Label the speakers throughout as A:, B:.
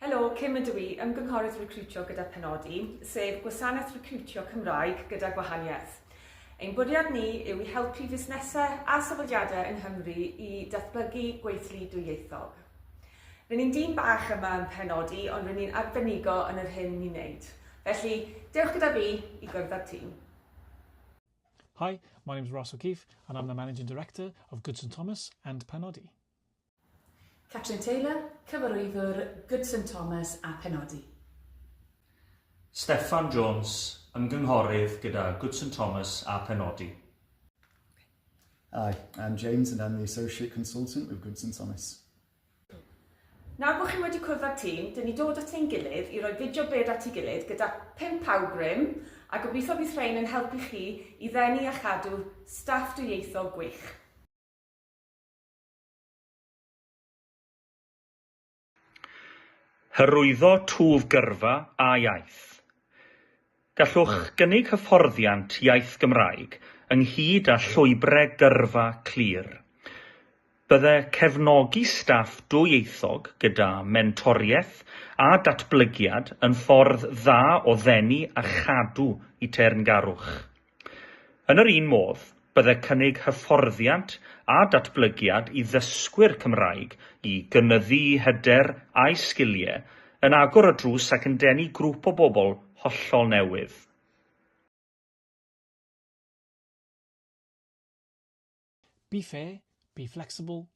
A: Helo, Kim ydw i, Ymgynghorydd Recriwtio gyda Penodi, sef gwasanaeth recriwtio Cymraeg gyda gwahaniaeth. Ein bwriad ni yw i helpu fusnesau a sefydliadau yng Nghymru i datblygu gweithlu dwyieithog. Rydyn ni'n dîm bach yma yn Penodi, ond rydyn ni'n arbenigo yn yr hyn ni'n wneud. Felly, dewch gyda fi i gwrdd â'r tîm.
B: Hi, my name is Ross O'Keefe and I'm the Managing Director of Goodson Thomas and Penodi.
C: Catrin Taylor, Cyfarwyddwr Goodson Thomas a Penodi.
D: Steffan Jones, Ymgynghorydd gyda Goodson Thomas a Penodi.
E: Hi, I'm James and I'm the Associate Consultant with Goodson Thomas.
A: Nawr bod chi wedi cwrdd â'r tîm, dyn ni dod at ein gilydd i roi fideo bed at ei gilydd gyda pump awgrym a gobeithio bydd rhain yn helpu chi i ddenu a chadw staff dwyieithog gwych.
D: Hyrwyddo twf gyrfa a iaith. Gallwch gynnig hyfforddiant iaith Gymraeg ynghyd â llwybre gyrfa clir. Bydde cefnogi staff dwyieithog gyda mentoriaeth a datblygiad yn ffordd dda o ddenu a chadw y teyrngarwch. Yn yr un modd, Byddai cynnig hyfforddiant a datblygiad i ddysgwyr Cymraeg i gynyddu'u hyder a'u sgiliau yn agor y drws ac yn denu grŵp o bobl hollol newydd.
B: Be fair, be flexible,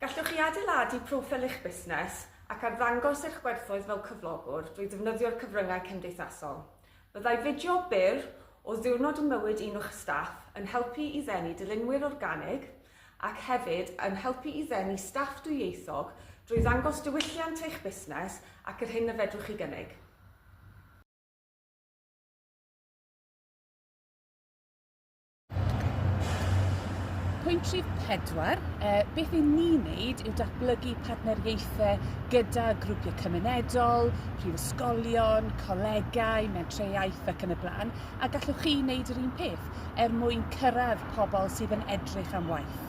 A: Gallwch chi adeiladu proffil eich busnes ac arddangos eich gwerthoedd fel cyflogwr drwy ddefnyddio'r cyfryngau cymdeithasol. Byddai fideo byr o ddiwrnod ym mywyd un o'ch staff yn helpu i ddenu dilynwyr organig ac hefyd yn helpu i ddenu staff dwyieithog drwy ddangos diwylliant eich busnes ac yr hyn y fedrwch chi gynnig.
C: Pwynt rhif pedwar, eh, beth i ni wneud yw datblygu partneriaethau gyda grwpiau cymunedol, prifysgolion, colegau, mentrau iaith ac yn y blaen, a gallwch chi wneud yr un peth er mwyn cyrraedd pobl sydd yn edrych am waith.